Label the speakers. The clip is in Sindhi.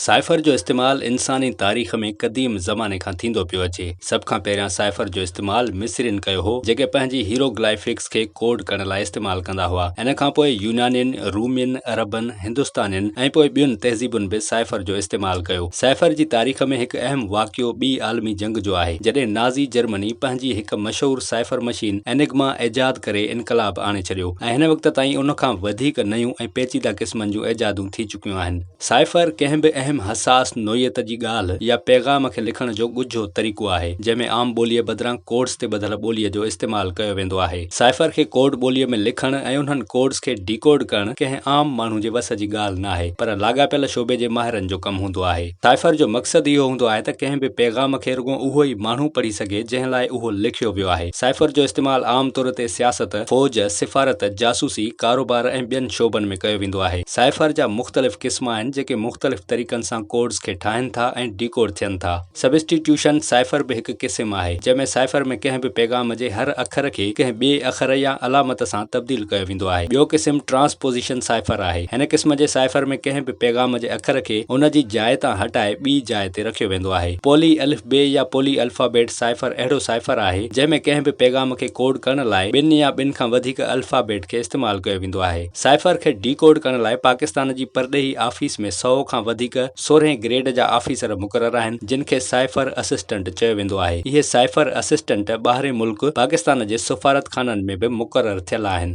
Speaker 1: سائفر جو استعمال انساني تاريخ ۾ قديم زماني کان ٿيندو پيو اچي. سڀ کان پهريان سائفر جو استعمال مصرين ڪيو هو، جيڪي پنهنجي هيروگلائفڪس کي ڪوڊ ڪرڻ لاء استعمال ڪندا هئا. ان کان پوء يونانين، رومين، عربن، هندستانين ۽ پوء ٻين تهذيبن به سائفر جو استعمال ڪيو. سائفر جي تاريخ ۾ هڪ اهم واقعو ٻي عالمي جنگ جو آهي، جڏهن نازي جرمني پنهنجي هڪ مشهور سائفر مشين Enigma ايجاد ڪري انقلاب آڻي ڇڏيو ۽ هن وقت تائين ان کان وڌيڪ نيون ۽ پيچيده قسمن جون ايجادون ٿي چڪيون آهن. سائفر ڪنهن به اهم حساس نوعيت جي ڳالهه يا پيغام کي لکڻ جو ڳجهو طريقو آهي، جنهن ۾ عام ٻوليء بدران ڪوڊز تي ٻڌل ٻوليء جو استعمال ڪيو ويندو آهي. سائفر کي ڪوڊ ٻوليء ۾ لکڻ ۽ انهن ڪوڊز کي ڊيڪوڊ ڪرڻ ڪنهن عام ماڻهو جي وس جي ڳالهه ناهي، پر لاڳاپيل شعبي جي ماهرن جو ڪم هوندو آهي. سائفر جو مقصد اهو هوندو آهي ته ڪنهن به پيغام کي رڳو اهو ئي ماڻهو پڙهي سگهي، جنهن لاء اهو لکيو ويو آهي. سائفر جو استعمال عام طور تي سياست، فوج، سفارت، جاسوسي، ڪاروبار ۽ ٻين شعبن ۾ ڪيو ويندو آهي. سائفر جا مختلف قسم آهن جيڪي مختلف طريقن سان ڪوڊز کي ٺاهن ٿا ۽ ڊيڪوڊ ٿين ٿا. سبسٽيٽيوشن سائفر به هڪ قسم آهي جنهن ۾ سائفر ۾ ڪنهن به پيغام جي هر اکر کي ڪنهن ٻئي اکر يا علامت سان تبديل ڪيو ويندو آهي. ٻيو قسم ٽرانسپوزيشن سائفر آهي. هن قسم جي سائفر ۾ ڪنهن به پيغام جي اکر کي ان جي جاء تان هٽائي ٻي جاء تي رکيو ويندو آهي. پولي الف بي يا پولي الفابيٽ سائفر اهڙو سائفر آهي جنهن ۾ ڪنهن به پيغام کي ڪوڊ ڪرڻ لاء ٻن يا ٻن کان وڌيڪ الفابيٽ کي استعمال ڪيو ويندو آهي. سائفر کي ڊي ڪوڊ ڪرڻ لاء پاڪستان جي پرڏيهي آفيس ۾ سؤ کان وڌيڪ سورهين گريڊ جا آفيسر مقرر آهن جن کي سائفر اسسٽنٽ چيو ويندو آهي. اهي سائفر اسسٽنٽ ٻاهرين ملڪ پاڪستان جي سفارتخانن ۾ به مقرر ٿيل آهن.